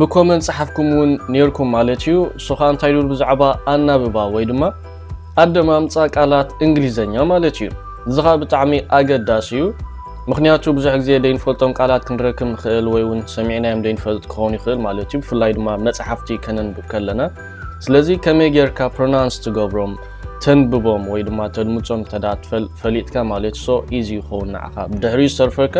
ብኮመንት ጸሓፍኩም እውን ኔርኩም ማለት እዩ። እሱ ከኣ እንታይ ድብል ብዛዕባ ኣናብባ ወይ ድማ ኣደማምጻ ቃላት እንግሊዘኛ ማለት እዩ። እዚ ከኣ ብጣዕሚ ኣገዳሲ እዩ። ምክንያቱ ብዙሕ ግዜ ደይንፈልጦም ቃላት ክንረክብ ንክእል ወይ እውን ሰሚዕናዮም ደይንፈልጥ ክኸውን ይክእል ማለት እዩ ብፍላይ ድማ መጽሓፍቲ ከነንብብ ከለና ስለዚ ከመይ ጌርካ ፕሮናንስ ትገብሮም ተንብቦም ወይ ድማ ተድምጾም እንተ ፈሊጥካ ማለት ሶ ኢዚ ይኸውን ንዓኻ ብድሕሪኡ ዝተርፈካ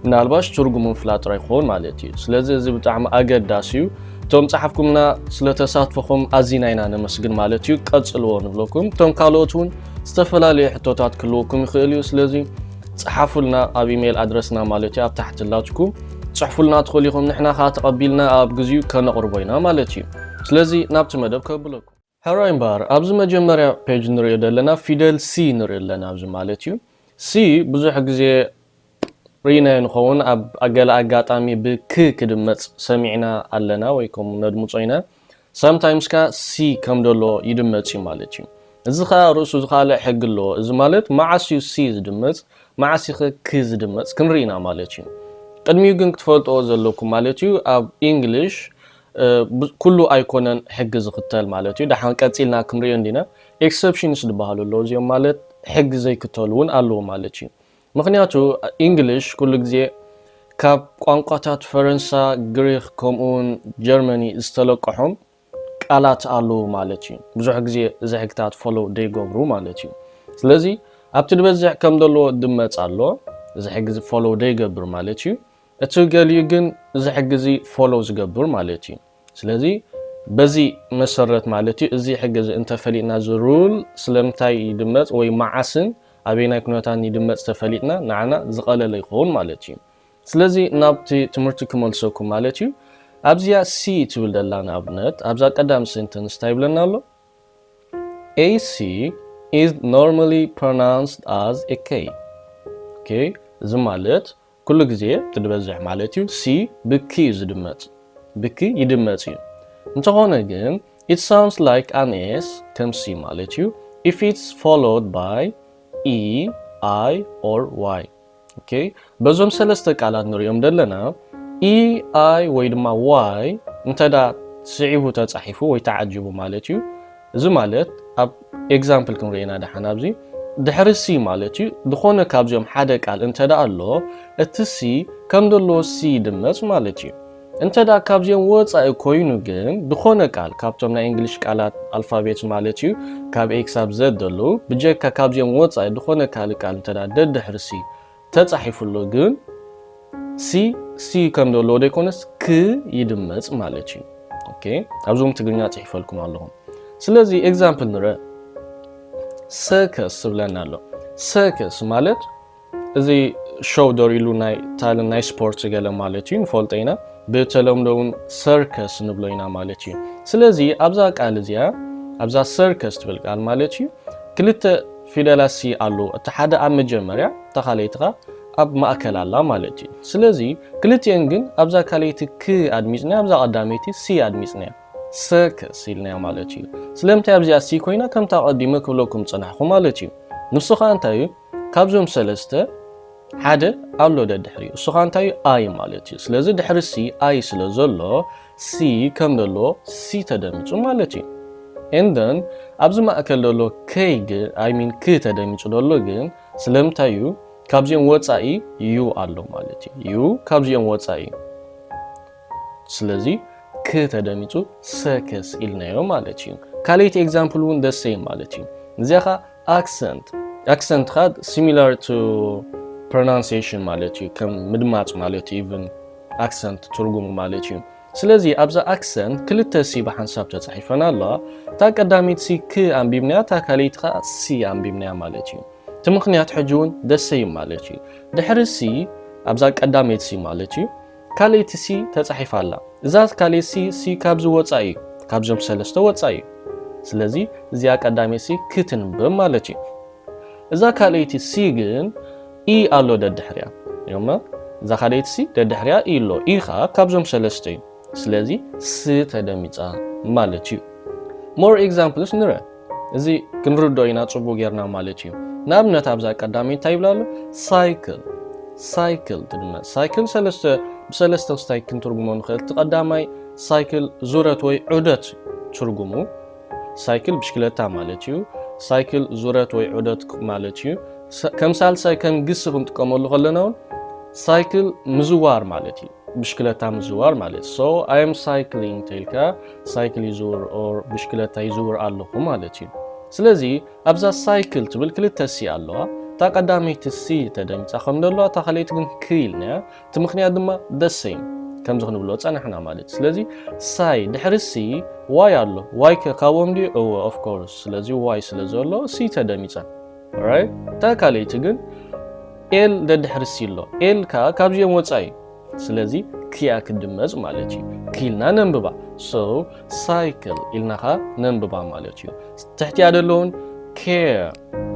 ምናልባሽ ትርጉሙ ምፍላጥ ጥራይ ክኸውን ማለት እዩ። ስለዚ እዚ ብጣዕሚ ኣገዳሲ እዩ። እቶም ጸሓፍኩምና ስለ ተሳትፎኹም ኣዚና ኢና ነመስግን ማለት እዩ። ቀጽልዎ ንብለኩም። እቶም ካልኦት እውን ዝተፈላለዩ ሕቶታት ክህልወኩም ይኽእል እዩ። ስለዚ ጸሓፉልና ኣብ ኢሜይል ኣድረስና ማለት እዩ ኣብ ታሕቲ ኣላትኩም ጽሕፉልና ትኽእሉ ኢኹም። ንሕና ከዓ ተቐቢልና ኣብ ግዚኡ ከነቕርቦ ኢና ማለት እዩ። ስለዚ ናብቲ መደብ ከብለኩም። ሕራይ እምበኣር ኣብዚ መጀመርያ ፔጅ ንሪኦ ዘለና ፊደል ሲ ንሪኢ ኣለና ኣብዚ ማለት እዩ ሲ ብዙሕ ግዜ ሪኢናዮ ንኸውን ኣብ ገለ ኣጋጣሚ ብ ክ ክድመጽ ሰሚዕና ኣለና ወይ ከምኡ ነድምጾ ኢና ሳምታይምስ ከኣ ሲ ከም ደሎ ይድመጽ እዩ ማለት እዩ እዚ ከኣ ርእሱ ዝኻልእ ሕጊ ኣለዎ እዚ ማለት መዓስ እዩ ሲ ዝድመጽ መዓስ ኢኸ ክ ዝድመጽ ክንሪኢ ኢና ማለት እዩ ቅድሚኡ ግን ክትፈልጥዎ ዘለኩም ማለት እዩ ኣብ ኢንግሊሽ ኩሉ ኣይኮነን ሕጊ ዝኽተል ማለት እዩ ደሓን ቀጺልና ክንሪኦ እንዲና ኤክሰፕሽንስ ዝበሃሉ ኣለዉ እዚኦም ማለት ሕጊ ዘይክተሉ ውን ኣለዉ ማለት እዩ ምኽንያቱ ኢንግሊሽ ኩሉ ግዜ ካብ ቋንቋታት ፈረንሳ ግሪኽ ከምኡ ውን ጀርመኒ ዝተለቀሖም ቃላት ኣለዉ ማለት እዩ ብዙሕ ግዜ እዚ ሕግታት ፎሎው ዘይገብሩ ማለት እዩ ስለዚ ኣብቲ ዝበዝሕ ከም ዘለዎ ድመጽ ኣሎ እዚ ሕጊ ፎሎው ዘይገብር ማለት እዩ እቲ ገሊኡ ግን እዚ ሕጊ እዚ ፎሎው ዝገብር ማለት እዩ። ስለዚ በዚ መሰረት ማለት እዩ እዚ ሕጊ እዚ እንተፈሊጥና እዚ ሩል ስለምንታይ ይድመፅ ወይ መዓስን ኣበየናይ ኩነታትን ይድመፅ ተፈሊጥና ንዓና ዝቐለለ ይኸውን ማለት እዩ። ስለዚ ናብቲ ትምህርቲ ክመልሰኩም ማለት እዩ። ኣብዚኣ C ትብል ዘላ ንኣብነት ኣብዛ ቀዳም ሴንተንስ እንታይ ይብለና ኣሎ? A C is normally pronounced as a K። ኦኬ እዚ ማለት ኩሉ ግዜ ትድበዝሕ ማለት እዩ። ሲ ብኪ እዩ ዝድመጽ። ብኪ ይድመጽ እዩ። እንተኾነ ግን it sounds like an s ከም ሲ ማለት እዩ if it's followed by e i or y ok በዞም ሰለስተ ቃላት ንሪኦም ደለና e i ወይ ድማ y እንተዳ ስዒቡ ተጻሒፉ ወይ ተዓጂቡ ማለት እዩ እዚ ማለት ኣብ ኤግዛምፕል ክንሪኦ ኢና ደሓን ኣብዚ ድሕሪ ሲ ማለት እዩ ዝኾነ ካብዚኦም ሓደ ቃል እንተ ደኣ ኣሎ እቲ ሲ ከም ዘለዎ ሲ ይድመጽ ማለት እዩ። እንተ ደኣ ካብዚኦም ወጻኢ ኮይኑ ግን ዝኾነ ቃል ካብቶም ናይ እንግሊሽ ቃላት ኣልፋቤት ማለት እዩ ካብ ኤ ክሳብ ዘድ ዘለዉ ብጀካ ካብዚኦም ወጻኢ ዝኾነ ካልእ ቃል እንተ ደኣ ደድሕሪ ሲ ተጻሒፉ ኣሎ ግን ሲ ሲ ከም ዘለዎ ዶ ይኮነስ ክ ይድመጽ ማለት እዩ ኦኬ ኣብዞም ትግርኛ ጽሒፈልኩም ኣለኹም ስለዚ ኤግዛምፕል ንረ ሰከስ ዝብለና ኣሎ ሰከስ ማለት እዚ ሾው ዶር ኢሉ ናይ ታልን ናይ ስፖርት ገለ ማለት እዩ ንፈልጦ ኢና ብተለምዶ እውን ሰርከስ ንብሎ ኢና ማለት እዩ ስለዚ ኣብዛ ቃል እዚኣ ኣብዛ ሰርከስ ትብል ቃል ማለት እዩ ክልተ ፊደላት ሲ ኣሎ እቲ ሓደ ኣብ መጀመርያ እታ ካልኣይቲ ከኣ ኣብ ማእከል ኣላ ማለት እዩ ስለዚ ክልቲኤን ግን ኣብዛ ካልኣይቲ ክ ኣድሚጽናያ ኣብዛ ቀዳመይቲ ሲ ኣድሚጽናያ ሰክስ ኢልናዮ ማለት እዩ ስለምንታይ ኣብዚኣ ሲ ኮይና ከምታ ቀዲመ ክብለኩም ጸናሕኩ ማለት እዩ ንሱ ከኣ እንታይ እዩ ካብዞም ሰለስተ ሓደ ኣሎ ደድሕሪ እሱ ከኣ እንታይ ኣይ ማለት እዩ ስለዚ ድሕሪ ሲ ኣይ ስለ ዘሎ ሲ ከም ደሎ ሲ ተደሚጹ ማለት እዩ። and then ኣብዚ ማእከል ደሎ ከይ ግን i mean ክ ተደሚጹ ደሎ ግን ስለምንታይ እዩ ካብዚኦም ወጻኢ ዩ ኣሎ ማለት እዩ። ዩ ካብዚኦም ወጻኢ እዩ። ስለዚ ክ ተደሚጹ ሰክስ ኢልናዮ ማለት እዩ። ካልኣይቲ ኤግዛምፕል እውን the same ማለት እዩ። እዚኣ ከኣ ኣክሰንት ኣክሰንት ከኣ ሲሚላር ቱ ፕሮናንሴሽን ማለት እዩ ከም ምድማፅ ማለት እዩ ኢቭን ኣክሰንት ትርጉሙ ማለት እዩ ስለዚ ኣብዛ ኣክሰንት ክልተ ሲ ብሓንሳብ ተፃሒፈን ኣለዋ እታ ቀዳሚት ሲ ክ ኣንቢብናያ እታ ካልይቲ ከዓ ሲ ኣንቢብናያ ማለት እዩ እቲ ምክንያት ሕጂ እውን ደሰይ ማለት እዩ ድሕሪ ሲ ኣብዛ ቀዳመይቲ ሲ ማለት እዩ ካልእቲ ሲ ተጻሒፋ ኣላ እዛ ካልእት ሲ ሲ ካብዚ ወጻኢ እዩ ካብዞም ሰለስተ ወጻኢ እዩ ስለዚ እዚኣ ቀዳመይቲ ሲ ክትንበብ ማለት እዩ እዛ ካልእቲ ሲ ግን ኢ ኣሎ ደድሕሪያ እዮማ እዛ ካልእቲ ሲ ደድሕሪያ ኢ ኣሎ ኢ ከኣ ካብዞም ሰለስተ እዩ ስለዚ ስ ተደሚጻ ማለት እዩ more examples ንረ እዚ ክንርድኦ ኢና ጽቡቅ ጌርና ማለት እዩ ንኣብነት ኣብዛ ቀዳመይ እንታይ ይብላ ኣሎ ሳይክል ሳይክል ትድመ ሳይክል ሰለስተ ብሰለስተ ክስታይ ክንትርጉሞ ንኽእል እቲ ቀዳማይ ሳይክል ዙረት ወይ ዑደት ትርጉሙ ሳይክል ብሽክለታ ማለት እዩ ሳይክል ዙረት ወይ ዑደት ማለት እዩ ከም ሳልሳይ ከም ግሲ ክንጥቀመሉ ከለና እውን ሳይክል ምዝዋር ማለት እዩ ብሽክለታ ምዝዋር ማለት ሶ ኣይ ኣም ሳይክሊንግ ተልካ ሳይክል ይዝውር ኦር ብሽክለታ ይዝውር ኣለኹ ማለት እዩ ስለዚ ኣብዛ ሳይክል ትብል ክልተ ሲ ኣለዋ እታ ቀዳመይቲ ሲ ተደሚፃ ከም ዘለዋ እታ ካልኣይቲ ግን ክ ኢልና እያ እቲ ምክንያት ድማ ደሰይም ከምዚ ክንብሎ ፀናሕና ማለት ስለዚ ሳይ ድሕሪ ሲ ዋይ ኣሎ ዋይ ከ ካብኦም ድዩ እወ ኦፍኮርስ ስለዚ ዋይ ስለ ዘሎ ሲ ተደሚፀን ኦራይት እታ ካልኣይቲ ግን ኤል ደድሕሪ ሲ ኣሎ ኤል ከኣ ካብዚኦም ወጻኢ እዩ ስለዚ ክኣ ክድመጽ ማለት እዩ ክኢልና ነንብባ ሶ ሳይክል ኢልና ከኣ ነንብባ ማለት እዩ ትሕቲኣ ደለውን ኬር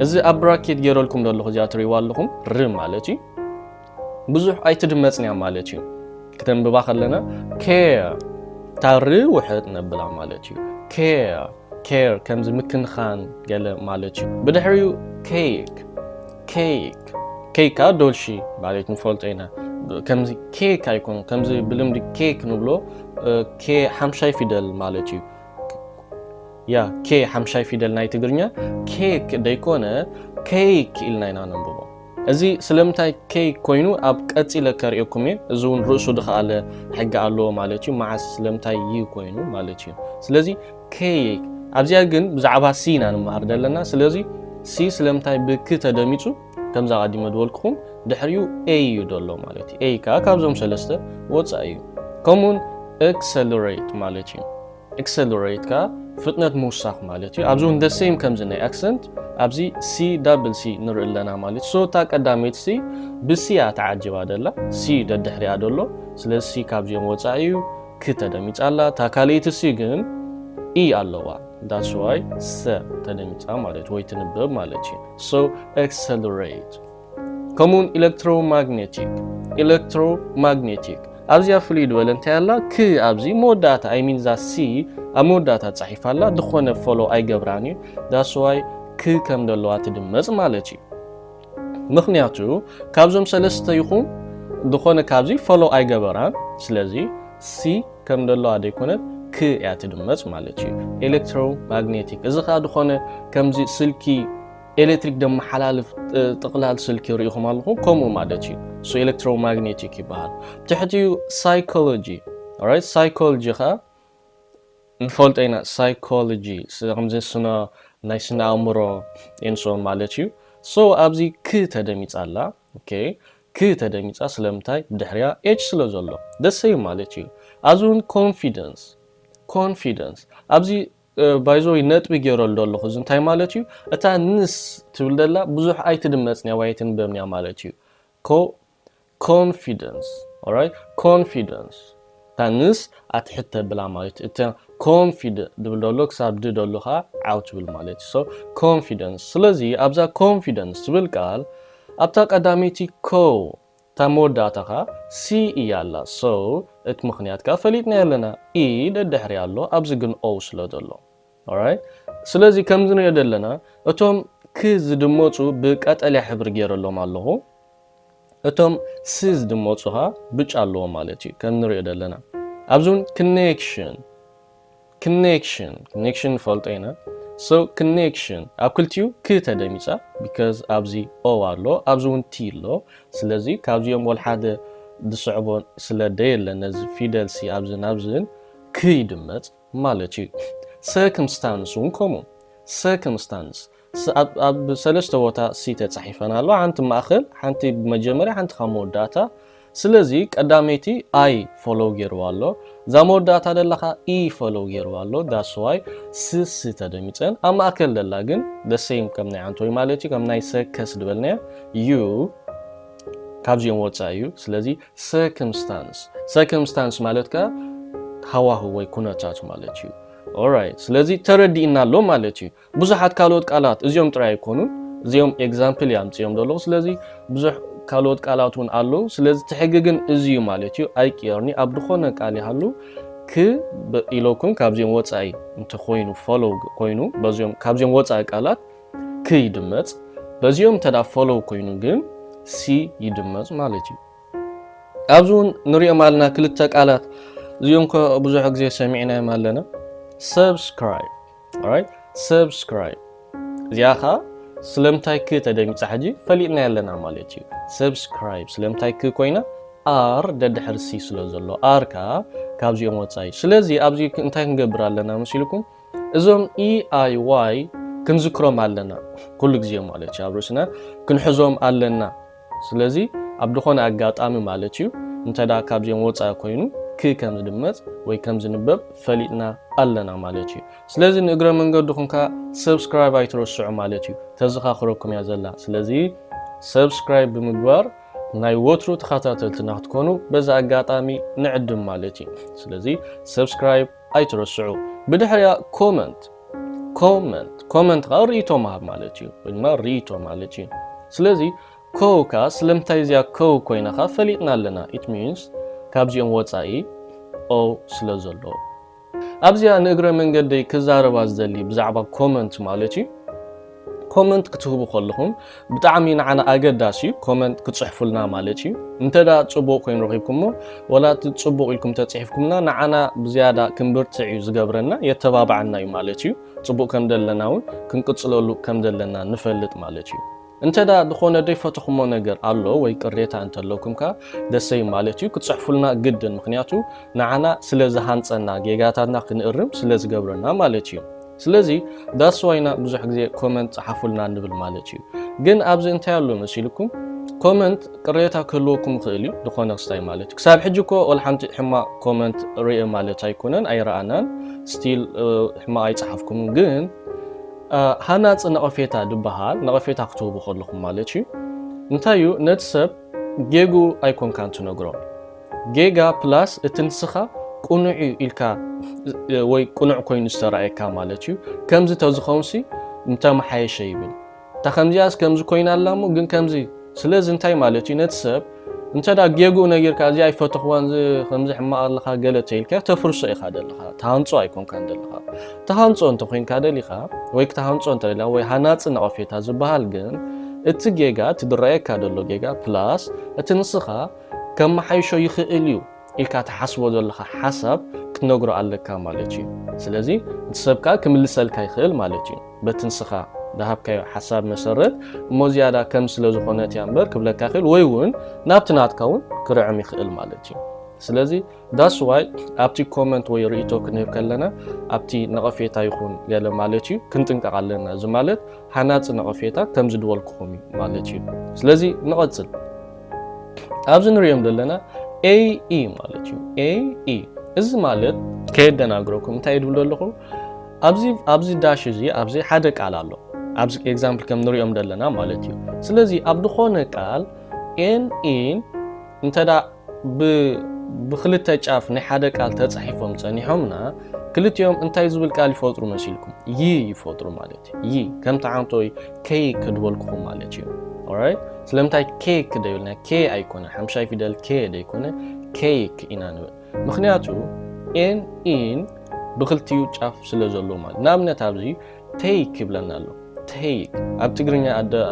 እዚ ኣብ ብራኬት ገይረልኩም ደለኹ እዚኣ ትርእይዋ ኣለኹም ር ማለት እዩ ብዙሕ ኣይትድመጽን እያ ማለት እዩ። ክተንብባ ከለና ኬር ታሪ ውሕጥ ነብላ ማለት እዩ። ኬር ኬር ከምዚ ምክንኻን ገለ ማለት እዩ። ብድሕሪኡ ኬክ ኬክ ኬክ ከዓ ዶልሺ ማለት ንፈልጦ ኢና። ከምዚ ኬክ ኣይኮን ከምዚ ብልምዲ ኬክ ንብሎ ኬ ሓምሻይ ፊደል ማለት እዩ። ያ ኬ ሓምሻይ ፊደል ናይ ትግርኛ ኬክ ደይኮነ ኬክ ኢልና ኢና ነንብቦ። እዚ ስለምንታይ ከይ ኮይኑ ኣብ ቀጺለ ከርእየኩም እየ እዚ እውን ርእሱ ድኸኣለ ሕጊ ኣለዎ ማለት እዩ መዓስ ስለምንታይ ይ ኮይኑ ማለት እዩ ስለዚ ከይ ኣብዚኣ ግን ብዛዕባ ሲ ኢና ንምሃር ዘለና ስለዚ ሲ ስለምንታይ ብክ ተደሚጹ ከምዛ ቀዲመ ድበልኩኹም ድሕሪኡ ኤይ እዩ ደሎ ማለት እዩ ኤይ ከዓ ካብዞም ሰለስተ ወፃኢ እዩ ከምኡውን ኤክሰለሬት ማለት እዩ Accelerate ከኣ ፍጥነት ምውሳኽ ማለት እዩ። ኣብዚ እውን the same ከምዚ ናይ accent ኣብዚ C double C ንርኢ ኣለና ማለት እዩ። so እታ ቀዳመይቲ C ብ C እያ ተዓጂባ ዘላ C ደድሕሪኣ ዘሎ ስለዚ C ካብዚኦም ወጻኢ እዩ ክ ተደሚጻ ኣላ እታ ካልኣይቲ C ግን E ኣለዋ that's why ሰ ተደሚጻ ማለት ወይ ትንበብ ማለት እዩ። so accelerate ከምኡውን ኤለክትሮማግነቲክ ኤለክትሮማግነቲክ ኣብዚኣ ፍልይ ድበለ እንታይ ኣላ ክ ኣብዚ መወዳእታ ኣይሚን እዛ ሲ ኣብ መወዳእታ ጻሒፋ ኣላ ዝኾነ ፎሎ ኣይገብራን እዩ ዳስዋይ ክ ከም ዘለዋ ትድመጽ ማለት እዩ ምክንያቱ ካብዞም ሰለስተ ይኹም ዝኾነ ካብዚ ፎሎ ኣይገበራን ስለዚ ሲ ከም ዘለዋ ዘይኮነት ክ እያ ትድመጽ ማለት እዩ ኤሌክትሮማግኔቲክ እዚ ከዓ ዝኾነ ከምዚ ስልኪ ኤሌክትሪክ ደመሓላልፍ ጥቕላል ስልኪ ርኢኹም ኣለኹም ከምኡ ማለት እዩ እሱ ኤሌክትሮማግኔቲክ ይበሃል ትሕቲኡ ሳይኮሎጂ ራይት ሳይኮሎጂ ከዓ ንፈልጦ ኢና ሳይኮሎጂ ከምዚ ስነ ናይ ስነ ኣእምሮ ኤንሶን ማለት እዩ ሶ ኣብዚ ክ ተደሚፃ ኣላ ኦኬ ክ ተደሚፃ ስለምንታይ ብድሕሪያ ኤች ስለ ዘሎ ደሰይ ማለት እዩ ኣብዚ እውን ኮንፊደንስ ኮንፊደንስ ኣብዚ ባይዘወይ ነጥቢ ጌረሉ ኣለኹ እዚ እንታይ ማለት እዩ እታ ንስ ትብል ደላ ብዙሕ ኣይትድመጽንያ ወይ ኣይትንበብንያ ማለት እዩ ኮ ኮንፊደንስ ኦራይት ኮንፊደንስ እታ ንስ ኣትሕት ተብላ ማለት እዩ እታ ኮንፊደ ድብል ደሎ ክሳብ ድ ደሎ ከዓ ዓው ትብል ማለት እዩ ሶ ኮንፊደንስ ስለዚ ኣብዛ ኮንፊደንስ ትብል ቃል ኣብታ ቀዳመይቲ ኮ እታ መወዳእታ ከኣ ሲ እያ ኣላ so እቲ ምኽንያት ከኣ ፈሊጥናዮ ኣለና e ደድሕሪኣ ኣሎ ኣብዚ ግን o ስለ ዘሎ alright ስለዚ ከምዚ ንሪኦ ዘለና እቶም ክ ዝድመጹ ብ ቀጠልያ ሕብሪ ጌረሎም ኣለኹ እቶም ስ ዝድመጹ ከኣ ብጫ ኣለዎም ማለት እዩ ከም ንሪኦ ዘለና ኣብዚ ውን connection ክኔክሽን Connection ንፈልጦ ኢና so ክኔክሽን ኣብ ክልቲኡ ክ ተደሚጻ because ኣብዚ o ኣሎ ኣብዚ ውን t ኣሎ ስለዚ ካብዚኦም ወልሓደ ዝስዕቦ ስለ ደየለ ነዚ ፊደል ሲ ኣብዝን ኣብዝን ክ ይድመጽ ማለት እዩ ሰክምስታንስ ውን ከምኡ ሰክምስታንስ ኣብ ሰለስተ ቦታ ሲ ተጻሒፈን ኣለዋ፣ ሓንቲ ማእከል፣ ሓንቲ ብመጀመርያ፣ ሓንቲ ካብ መወዳእታ። ስለዚ ቀዳመይቲ I ፎሎው ጌርዋ ኣሎ፣ እዛ መወዳእታ ደላ ከኣ E ፎሎው ጌርዋ ኣሎ፣ that's why ስ ስ ተደሚጸን። ኣብ ማእከል ደላ ግን the same ከም ናይ ዓንቶይ ማለት'ዩ፣ ከም ናይ ሰ ከ ስ ዝበልናዮ ዩ ካብዚኦም ወጻኢ ዩ። ስለዚ circumstance፣ circumstance ማለት ከኣ ሃዋህው ወይ ኩነታት ማለት ዩ። ኦራይት ስለዚ ተረዲእና ኣሎ ማለት ዩ። ብዙሓት ካልኦት ቃላት እዚኦም ጥራይ ኣይኮኑን እዚኦም ኤግዛምፕል እየ ኣምጺኦም ዘለኹ ስለዚ ብዙሕ ካልኦት ቃላት እውን ኣለዉ ስለዚ እቲ ሕጊ ግን እዚ እዩ ማለት እዩ ኣይቅየርኒ ኣብ ዝኾነ ቃል ይሃሉ ክ ኢለኩም ካብዚኦም ወጻኢ እንተኮይኑ ፎሎው ኮይኑ በዚኦም ካብዚኦም ወጻኢ ቃላት ክ ይድመጽ በዚኦም እንተ ፎሎው ኮይኑ ግን ሲ ይድመጽ ማለት እዩ ኣብዚ እውን ንሪኦም ኣለና ክልተ ቃላት እዚኦም ከ ብዙሕ ግዜ ሰሚዕናዮም ኣለና ሰብስክራይብ ኦራይት ሰብስክራይብ እዚኣ ከዓ ስለምንታይ ክ ተደሚፃ ሕጂ ፈሊጥናያ ኣለና ማለት እዩ ሰብስክራይብ ስለምንታይ ክ ኮይና ኣር ደድሕሪ ሲ ስለ ዘሎ ኣር ከዓ ካብዚኦም ወፃኢ ስለዚ ኣብዚ እንታይ ክንገብር ኣለና መሲልኩም እዞም ኢኣይዋይ ክንዝክሮም ኣለና ኩሉ ግዜ ማለት እዩ ኣብ ርእስና ክንሕዞም ኣለና ስለዚ ኣብ ድኾነ ኣጋጣሚ ማለት እዩ እንተ ካብዚኦም ወፃኢ ኮይኑ ክ ከም ዝድመፅ ወይ ከም ዝንበብ ፈሊጥና ኣለና ማለት እዩ። ስለዚ ንእግረ መንገድኹም ከኣ subscribe ኣይትረስዑ ማለት እዩ ተዘኻኽረኩም እያ ዘላ። ስለዚ subscribe ብምግባር ናይ ወትሩ ተኸታተልትና ክትኮኑ በዚ ኣጋጣሚ ንዕድም ማለት እዩ። ስለዚ subscribe ኣይትረስዑ ብድሕሪኣ comment comment comment ከኣ ሪኢቶ ምሃብ ማለት እዩ ወይ ድማ ሪኢቶ ማለት እዩ ስለዚ ኮው ከኣ ስለምንታይ እዚኣ ኮው ኮይና ከኣ ፈሊጥና ኣለና it means ካብዚኦም ወጻኢ o ስለ ዘሎ ኣብዚኣ ንእግረ መንገደይ ክዛረባ ዝደሊ ብዛዕባ comment ማለት እዩ ኮመንት ክትህቡ ከለኹም ብጣዕሚ ንዓና ኣገዳሲ እዩ ኮመንት ክጽሕፉልና ማለት እዩ እንተ ጽቡቕ ኮይኑ ረኺብኩሞ ወላ እቲ ጽቡቕ ኢልኩም ተጽሒፍኩምና ንዓና ብዝያዳ ክንብርትዕ እዩ ዝገብረና የተባብዓና እዩ ማለት እዩ ጽቡቕ ከም ዘለና እውን ክንቅጽለሉ ከም ዘለና ንፈልጥ ማለት እዩ እንተ ዝኾነ ዘይፈተኹሞ ነገር ኣሎ ወይ ቅሬታ እንተለኩም ከ ደሰይ ማለት እዩ ክጽሕፉልና ግድን ምክንያቱ ንዓና ስለ ዝሃንጸና ጌጋታትና ክንእርም ስለ ዝገብረና ማለት እዩ ስለዚ that's why ኢና ብዙሕ ግዜ comment ጸሓፉልና ንብል ማለት እዩ። ግን ኣብዚ እንታይ ኣሎ መሲልኩም comment ቅሬታ ክህልወኩም ይኽእል እዩ ዝኾነ ክስታይ ማለት እዩ። ክሳብ ሕጂ እኮ ወላ ሓንቲ ሕማቕ comment ርኤ ማለት ኣይኮነን ኣይረኣናን still ሕማቕ ኣይጸሓፍኩምን ግን ሃናጺ ነቐፌታ ድበሃል ነቐፌታ ክትህቡ ከለኹም ማለት እዩ እንታይ እዩ ነቲ ሰብ ጌግኡ ኣይኮንካን ትነግሮ ጌጋ ፕላስ እቲ ንስኻ ቅኑዕ እዩ ኢልካ ወይ ቅኑዕ ኮይኑ ዝተራእየካ ማለት እዩ ከምዚ ተዝኸውንሲ ምተመሓየሸ ይብል እታ ከምዚኣስ ከምዚ ኮይና ኣላ እሞ ግን ከምዚ ስለዚ እንታይ ማለት እዩ ነቲ ሰብ እንተ ጌግኡ ነጊርካ እዚ ኣይፈተኽዋን እዚ ከምዚ ሕማቕ ኣለኻ ገለ ተይልካ ተፍርሶ ኢኻ ደለኻ ተሃንጾ ኣይኮንካን ደለኻ ተሃንጾ እንተኮይንካ ደሊኻ ወይ ክተሃንጾ እንተደላ ወይ ሃናጺ ነቐፌታ ዝበሃል ግን እቲ ጌጋ እቲ ድረኣየካ ደሎ ጌጋ ፕላስ እቲ ንስኻ ከመሓይሾ ይኽእል እዩ ኢልካ ትሓስቦ ዘለኻ ሓሳብ ክትነግሮ ኣለካ ማለት እዩ። ስለዚ እቲ ሰብ ከኣ ክምልሰልካ ይኽእል ማለት እዩ በቲ ንስኻ ዝሃብካዮ ሓሳብ መሰረት እሞ ዝያዳ ከም ስለ ዝኾነት እያ እምበር ክብለካ ይኽእል ወይ እውን ናብቲ ናትካ እውን ክርዕም ይኽእል ማለት እዩ። ስለዚ ዳስ ዋይ ኣብቲ ኮመንት ወይ ርእይቶ ክንህብ ከለና ኣብቲ ነቐፌታ ይኹን ገለ ማለት እዩ ክንጥንቀቕ ኣለና እዚ ማለት ሃናጺ ነቐፌታ ከምዚ ድበልኩኹም እዩ ማለት እዩ ስለዚ ንቐጽል ኣብዚ ንሪኦም ዘለና ኤኢ ማለት እዩ ኤኢ እዚ ማለት ከየደናግረኩም እንታይ እዩ ድብሎ ኣለኹ ኣብዚ ኣብዚ ዳሽ እዚ ኣብዚ ሓደ ቃል ኣሎ ኣብዚ ኤግዛምፕል ከም ንሪኦም ዘለና ማለት እዩ ስለዚ ኣብ ዝኾነ ቃል ኤን ኢን እንተ ብክልተ ጫፍ ናይ ሓደ ቃል ተጻሒፎም ጸኒሖምና ክልቲኦም እንታይ ዝብል ቃል ይፈጥሩ መሲልኩም ይ ይፈጥሩ ማለት እዩ ይ ከም ተዓንቶይ ኬክ ድበልኩኹም ማለት እዩ ኦራይት ስለምንታይ ኬክ ደይብልና ኬ ኣይኮነ ሓምሻይ ፊደል ኬ ደይኮነ ኬክ ኢና ንብል ምክንያቱ ኤን ኢን ብክልቲኡ ጫፍ ስለ ዘሎ ማለት ንኣብነት ኣብዚ ተይክ ይብለና ኣሎ ተይክ ኣብ ትግርኛ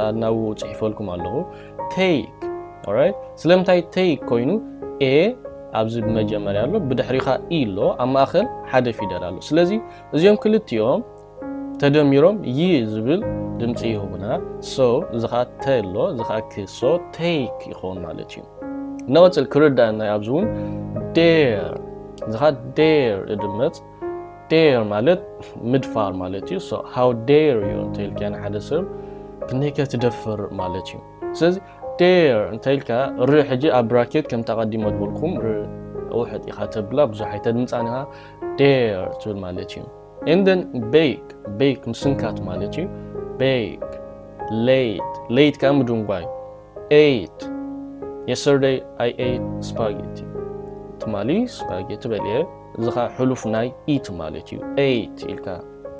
ኣናው ፅሒፈልኩም ኣለኹ ተይክ ኦራይት ስለምንታይ ተይክ ኮይኑ ኤ ኣብዚ ብመጀመርያ ኣሎ ብድሕሪኻ ኢ ኣሎ ኣብ ማእኸል ሓደ ፊደል ኣሎ ስለዚ እዚኦም ክልቲኦም ተደሚሮም ይ ዝብል ድምፂ ይህቡና ሶ እዚ ከዓ ተ ኣሎ እዚ ከዓ ክ ሶ ተይክ ይኸውን ማለት እዩ ንቕፅል ክርዳእና ኣብዚ እውን ዴር እዚ ከዓ ዴር እድመፅ ዴር ማለት ምድፋር ማለት እዩ ሶ ሃው ዴር ዩ እንተኢልካ ንሓደ ሰብ ክንደይከ ትደፍር ማለት እዩ ስለዚ ዴር እንተኢልካ ር ሕጂ ኣብ ብራኬት ከምታ ቀዲሞ ዝበልኩም ር ውሕጥ ኢኻ ተብላ ብዙሕ ኣይተድምፃን ኢኻ ዴር ትብል ማለት እዩ እንደን ቤክ ቤክ ምስንካት ማለት እዩ ቤክ ሌት ሌት ከዓ ምድንጓይ ኤት የስተርደይ ኣይ ኤት ስፓጌቲ ትማሊ ስፓጌቲ በልየ እዚ ከኣ ሕሉፍ ናይ ኢት ማለት እዩ። ኤይት ኢልካ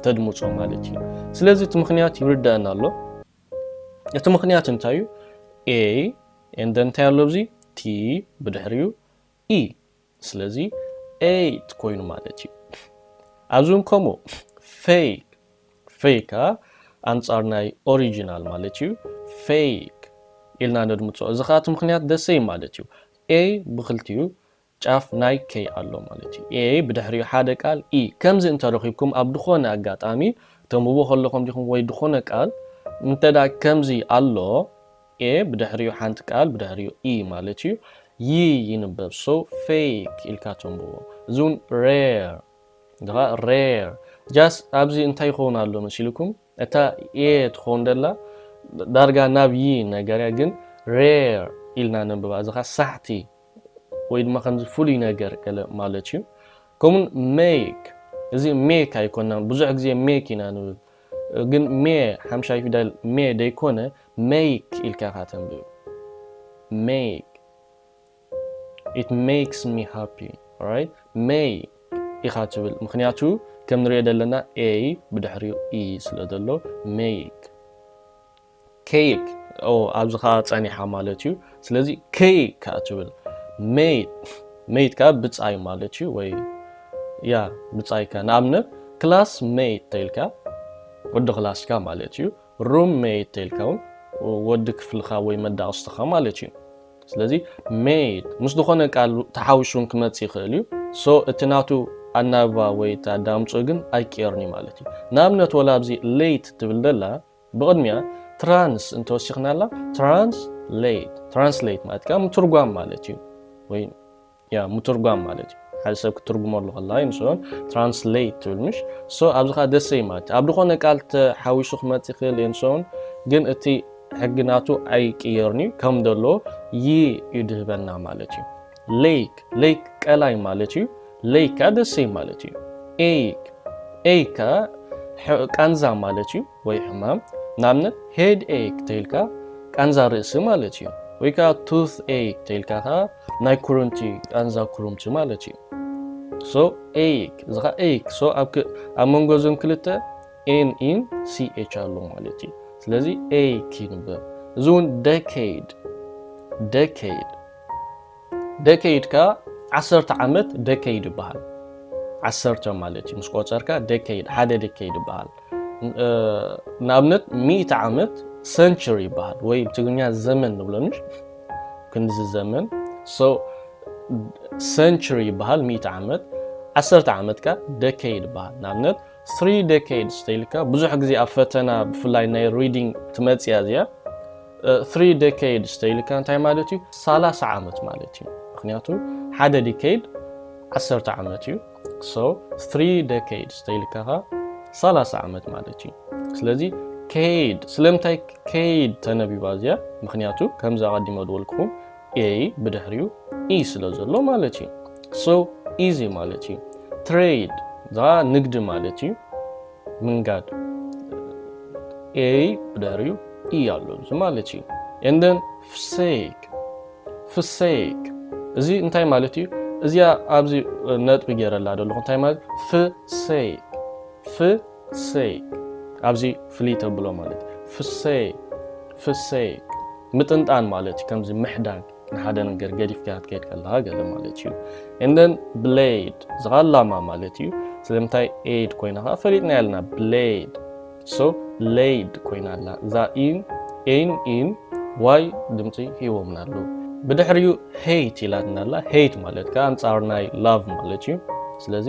ተድምጾ ማለት እዩ። ስለዚ እቲ ምኽንያት ይርደኣና ኣሎ። እቲ ምኽንያት እንታይ እዩ? ኤይ ኤንደ እንታይ ኣሎ ኣብዚ ቲ ብድሕሪኡ ኢ ስለዚ ኤይት ኮይኑ ማለት እዩ። ኣብዚ እውን ከምኡ ፌክ ፌክ ከኣ ኣንጻር ናይ ኦሪጂናል ማለት እዩ። ፌክ ኢልና ነድምጾ። እዚ ከኣ እቲ ምኽንያት ደሰይ ማለት እዩ። ኤይ ብክልቲኡ ጫፍ ናይ ከይ ኣሎ ማለት እዩ። a ብድሕሪኡ ሓደ ቃል e። ከምዚ እንተ ረኺብኩም ኣብ ድኾነ ኣጋጣሚ ተንብቡ ከለኹም ዲኹም ወይ ድኾነ ቃል እንተ ከምዚ ኣሎ a ብድሕሪኡ ሓንቲ ቃል ብድሕሪኡ e ማለት እዩ y ይንበብ so fake ኢልካ ተንብቦ። እዚ ውን rare ድኻ rare just ኣብዚ እንታይ ይኸውን ኣሎ መሲልኩም? እታ ኤ ትኸውን ደላ ዳርጋ ናብ ይ ነገር እያ ግን ሬር ኢልና ነንብባ እዚ ከኣ ሳሕቲ ወይ ድማ ከምዚ ፍሉይ ነገር ገለ ማለት እዩ ከምኡን ሜክ እዚ ሜክ ኣይኮናን ብዙሕ ግዜ ሜክ ኢና ንብል ግን ሜ ሓምሻይ ፊደል ሜ ደይኮነ ሜክ ኢልካ ኢኻ ተንብብ ሜክ ኢት ሜክስ ሚ ሃፒ ኦራይት ሜይ ኢኻ ትብል ምኽንያቱ ከም ንሪኦ ዘለና ኤይ ብድሕሪኡ ኢ ስለ ዘሎ ሜይክ ኬይክ ኣብዚ ከዓ ፀኒሓ ማለት እዩ ስለዚ ከይ ከዓ ትብል ሜይት ሜይት ከዓ ብፃይ ማለት እዩ ወይ ያ ብፃይካ ንኣብነት ክላስ ሜይት ተይልካ ወዲ ክላስካ ማለት እዩ ሩም ሜይት ተልካውን ወዲ ክፍልኻ ወይ መዳቕስትኻ ማለት እዩ ስለዚ ሜይት ምስ ዝኾነ ቃል ተሓውሹን ክመፅ ይኽእል እዩ ሶ እቲ ናቱ ኣናብባ ወይ እቲ ኣዳምፅኡ ግን ኣይቅየርን እዩ ማለት እዩ ንኣብነት ወላ ኣብዚ ሌይት ትብል ደላ ብቕድሚያ ትራንስ እንተወሲኽናላ ትራንስ ሌይት ትራንስሌት ማለት ምትርጓም ማለት እዩ ወይ ያ ምቱርጓም ማለት እዩ ሓደ ሰብ ክትርጉመሉ ከላ እዩ ንስኦ ትራንስሌት ትብል ምሽ ሶ ኣብዚ ከዓ ደሰ እዩ ማለት ኣብ ዝኾነ ቃል ተሓዊሱ ክመፅ ይኽእል እዩ ንስኦን ግን እቲ ሕጊ ናቱ ኣይቅየርን እዩ ከም ደሎ ይ እዩ ድህበና ማለት እዩ ሌይክ ሌይክ ቀላይ ማለት እዩ ሌይክ ከዓ ደሰ እዩ ማለት እዩ ኤይክ ኤይ ከዓ ቃንዛ ማለት እዩ ወይ ሕማም ንኣብነት ሄድ ኤክ ተይልካ ቃንዛ ርእሲ ማለት እዩ ወይ ከዓ ቱት ኤክ ተይልካ ከዓ ናይ ኩርምቲ ቃንዛ ኩርምቲ ማለት እዩ ሶ ኤክ እዚ ከዓ ኤክ ሶ ኣብ መንጎ እዞም ክልተ ኤን ኢን ሲኤች ኣሎ ማለት እዩ ስለዚ ኤክ ይንበብ እዚ እውን ደኬድ ደኬድ ደከይድ ከኣ ዓሰርተ ዓመት ደከይድ ይበሃል። ዓሰርተ ማለት እዩ ምስ ቆጸርካ ደከይድ ሓደ ደከይድ ይበሃል። ንኣብነት ሚእቲ ዓመት ሰንቸሪ ይበሃል ወይ ብትግርኛ ዘመን ንብሎ ንሽ ክንዚ ዘመን ሰንቸሪ ይበሃል ሚእቲ ዓመት ዓሰርተ ዓመት ከ ደከይድ ይበሃል ንኣብነት Three decades ተይልካ ብዙሕ ግዜ ኣብ ፈተና ብፍላይ ናይ reading ትመጽእ እያ እዚኣ። Three decades ተይልካ እንታይ ማለት እዩ? ሰላሳ ዓመት ማለት እዩ። ምክንያቱ ሓደ decade ዓሰርተ ዓመት እዩ። So three decades ተይልካ ከ ሰላሳ ዓመት ማለት እዩ። ስለዚ ከይድ ስለምንታይ ከይድ ተነቢባ እዚኣ? ምክንያቱ ከምዚ ኣቐዲመ ዝበልኩኹም a ብድሕሪኡ e ስለ ዘሎ ማለት እዩ። so easy ማለት እዩ። trade እዚኸኣ ንግዲ ማለት እዩ፣ ምንጋድ a ብድሕሪኡ e ኣሎ እዚ ማለት እዩ። and then fsake fsake እዚ እንታይ ማለት እዩ? እዚኣ ኣብዚ ነጥቢ ገይረላ ዘለኹ እንታይ ማለት እዩ? fsake ፍሰይ ኣብዚ ፍልይ ተብሎ ማለት እዩ ፍሰይ ፍሰይ ምጥንጣን ማለት እዩ ከምዚ ምሕዳግ ንሓደ ነገር ገዲፍካ ክትከይድ ከለካ ገለ ማለት እዩ እንደን ብሌድ ዝቃላማ ማለት እዩ ስለምንታይ ኤድ ኮይና ከዓ ፈሊጥና ያልና ብሌድ ሶ ሌድ ኮይና ኣላ እዛ ኢን ኤን ኢን ዋይ ድምፂ ሂቦምና ኣሉ ብድሕሪኡ ሄይት ኢላትና ኣላ ሄይት ማለት ከዓ ኣንፃር ናይ ላቭ ማለት እዩ ስለዚ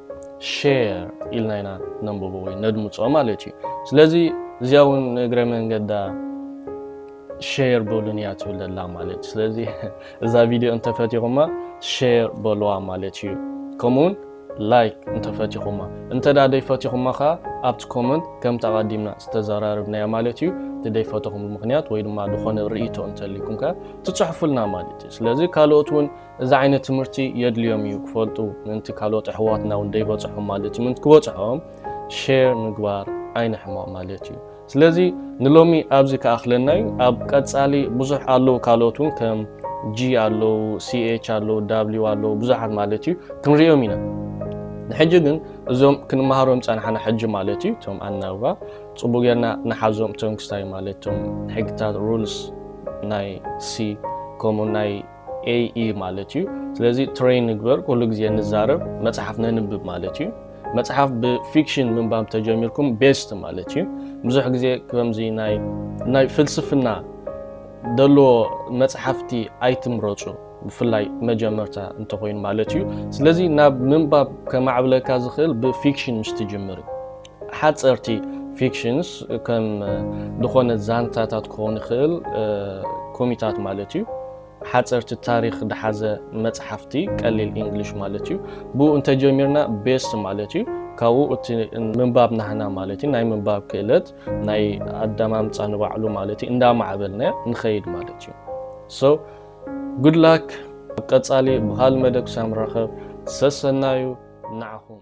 ሼር ኢልና ኢና ነንብቦ ወይ ነድምፆ ማለት እዩ ስለዚ እዚኣ እውን ንእግረ መንገዳ ሼር በሉን እያ ትብል ዘላ ማለት እዩ ስለዚ እዛ ቪድዮ እንተፈቲኹማ ሼር በልዋ ማለት እዩ ከምኡውን ላይክ እንተፈቲኹማ እንተ ደይፈቲኹማ ከዓ ኣብቲ ኮመንት ከምቲ ኣቐዲምና ዝተዘራርብናያ ማለት እዩ እቲ ደይፈተኹም ምክንያት ወይ ድማ ዝኾነ ርእቶ እንተልይኩም ከዓ ትፅሕፉልና ማለት እዩ ስለዚ ካልኦት እውን እዚ ዓይነት ትምህርቲ የድልዮም እዩ ክፈልጡ ምእንቲ ካልኦት ኣሕዋትና እውን ደይበፅሖም ማለት እዩ ምእንቲ ክበፅሖም ሼር ምግባር ኣይንሕመቕ ማለት እዩ ስለዚ ንሎሚ ኣብዚ ክኣኽለና እዩ ኣብ ቀፃሊ ብዙሕ ኣለዉ ካልኦት እውን ከም ጂ ኣለዉ ሲኤች ኣለዉ ዳብሊው ኣለዉ ብዙሓት ማለት እዩ ክንሪኦም ኢና ንሕጂ ግን እዞም ክንመሃሮም ፀናሕና ሕጂ ማለት እዩ እቶም ኣናብባ ፅቡቅ ጌርና ንሓዞም እቶም ክስታይ ማለት እቶም ሕግታት ሩልስ ናይ ሲ ከምኡ ናይ AE ማለት እዩ ስለዚ ትሬን ንግበር ኩሉ ግዜ ንዛረብ መጽሓፍ ነንብብ ማለት እዩ መጽሓፍ ብፊክሽን ምንባብ ተጀሚርኩም ቤስት ማለት እዩ ብዙሕ ግዜ ከምዚ ናይ ናይ ፍልስፍና ደለዎ መጽሓፍቲ ኣይትምረጹ ብፍላይ መጀመርታ እንተኮይኑ ማለት እዩ ስለዚ ናብ ምንባብ ከማዕብለካ ዝኽእል ብፊክሽን ምስ ትጅምር እዩ ሓጸርቲ ፊክሽንስ ከም ዝኾነ ዛንታታት ክኾን ይኽእል ኮሚታት ማለት እዩ ሓጸርቲ ታሪኽ ድሓዘ መጽሓፍቲ ቀሊል ኢንግሊሽ ማለት እዩ ብኡ እንተጀሚርና ቤስት ማለት እዩ ካብኡ እቲ ምንባብ ናህና ማለት እዩ ናይ ምንባብ ክእለት ናይ ኣዳማምፃ ንባዕሉ ማለት እዩ እንዳማዕበልና ንኸይድ ማለት እዩ ሶ ጉድ ላክ ኣብ ቀፃሊ ብካል መደብ ክሳብ ንራኸብ ሰሰናዩ ንዓኹም